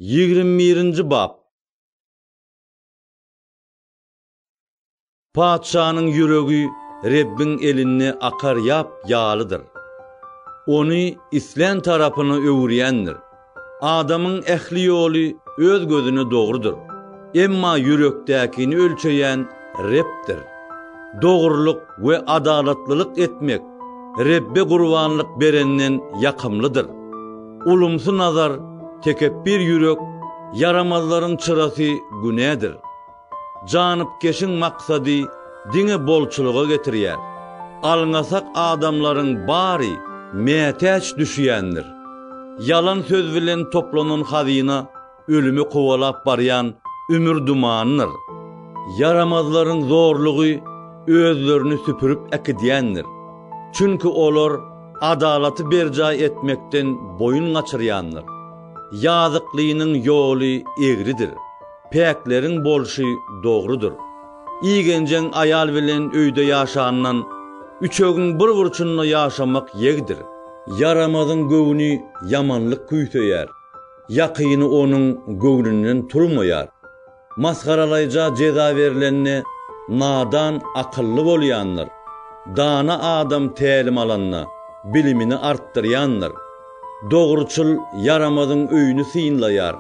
Ýigrimi birinji bap. Patyşanyň ýüregi Rebbiň elinde akar ýap ýalydyr. Ony islän tarapyna öwürýändir. Adamyň ähli ýoly öz gözüne dogrudyr, emma ýürekdäkini ölçeýän Rebdir. Dogrulyk we adalatlylyk etmek Rebbe gurbanlyk berenden ýakymlydyr. Ulumsy nazar, tekepbir ýürek, ýaramazlaryň çyrasy günädir. Janypkeşiň maksady diňe bolçulyga getirýär. Alňasak adamlaryň bary mätäç düşýändir. Ýalan söz bilen toplanan hazyna ölümi kowalap barýan ümür dumanydyr. Ýaramazlaryň zorlugy özlerini süpürip äkidýändir. Çünki olar adalaty berjaý etmekden boýun gaçyrýandyr. Ýazyklynyň ýoly egridir. Päkleriň bolşy dogrudyr. Igenjeň aýal bilen öýde ýaşandan, üçegiň bir burçunda ýaşamak ýegdir. Ýaramazyň göwni ýamanlyk küýseýär. Ýakyny onuň göwnünden turmaýar. Masgaralaýja jeza berlende, nadan akylly bolýandyr. Dana adam tälim alanda, bilimini artdyrýandyr. Dogruçyl ýaramazyň öýüni synlaýar.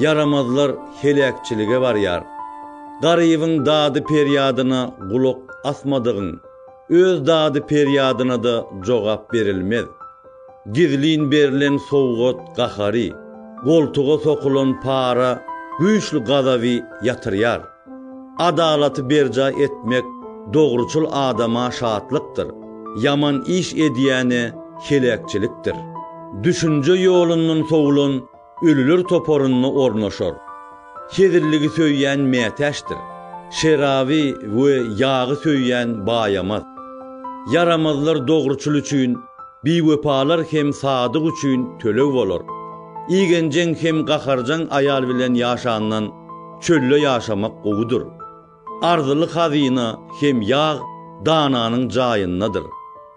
Ýaramazlar heläkçilige barýar. Garybyň dady-perýadyna gulak asmadygyň, öz dady-perýadyna-da jogap berilmez. Gizlin berlen sowgat gahary, goltuga sokulan para güýçli gazaby ýatyrýar. Adalaty berjaý etmek dogruçyl adama şatlykdyr, ýaman iş edýäne heläkçilikdir. Düşünje ýolundan sowulan Ölüler toparynda ornaşar. Hezilligi söýýän mätäçdir. Şeraby we ýagy söýýän baýamaz. Ýaramazlar dogruçyl üçin, biwepalar hem sadyk üçin töleg bolar. Igenjeň hem gaharjaň aýal bilen ýaşandan çölde ýaşamak gowudyr. Arzyly hazyna hem ýag dananyň jaýyndadyr,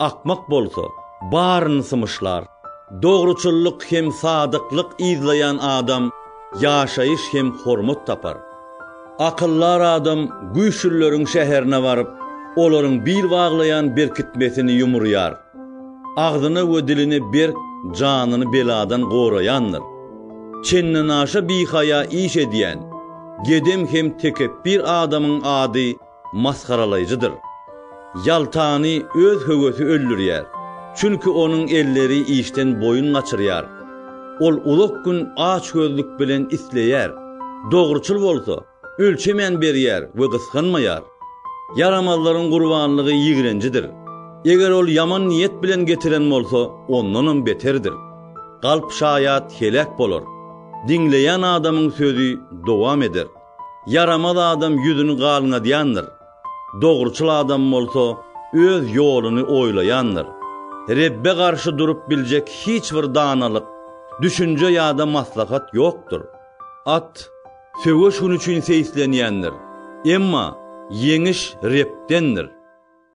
akmak bolsa, baryny symyşlar. Dogruçyllyk hem sadyklyk yzlaýan adam ýaşaýyş hem hormat tapar. Akyldar adam güýçlüleriň şäherine baryp, olaryň bil baglaýan berkitmesini ýumurýar. Agzyny we dilini berk, janyny beladan goraýandyr. Çendenaşa bihaýa iş edýän, gedem hem tekepbir adamyň ady masgaralaýjydyr. Ýaltany öz höwesi öldürýär, çünki onuň elleri işden boýun gaçyrýar. Ol uzak gün açgözlük bilen isleýär, dogruçyl bolsa, Ölçemän berýär we gysganmaýar. Ýaramazlaryň gurbanlygy ýigrenjidir. Eger ol ýaman niýet bilen getiren bolsa, ondanam beterdir. Galp şaýat heläk bolar. Diňleýän adamyň sözi dowam eder. Ýaramaz adam ýüzüni galňadýandyr. Dogruçyl adam bolsa öz ýoluny oýlaýandyr. Rebbe garşy durup biljek hiç bir danalyk, düşünje ýa-da maslahat ýokdur. At. Söweş gün üçin seýislenýändir, emma ýeňiş Rebdendir.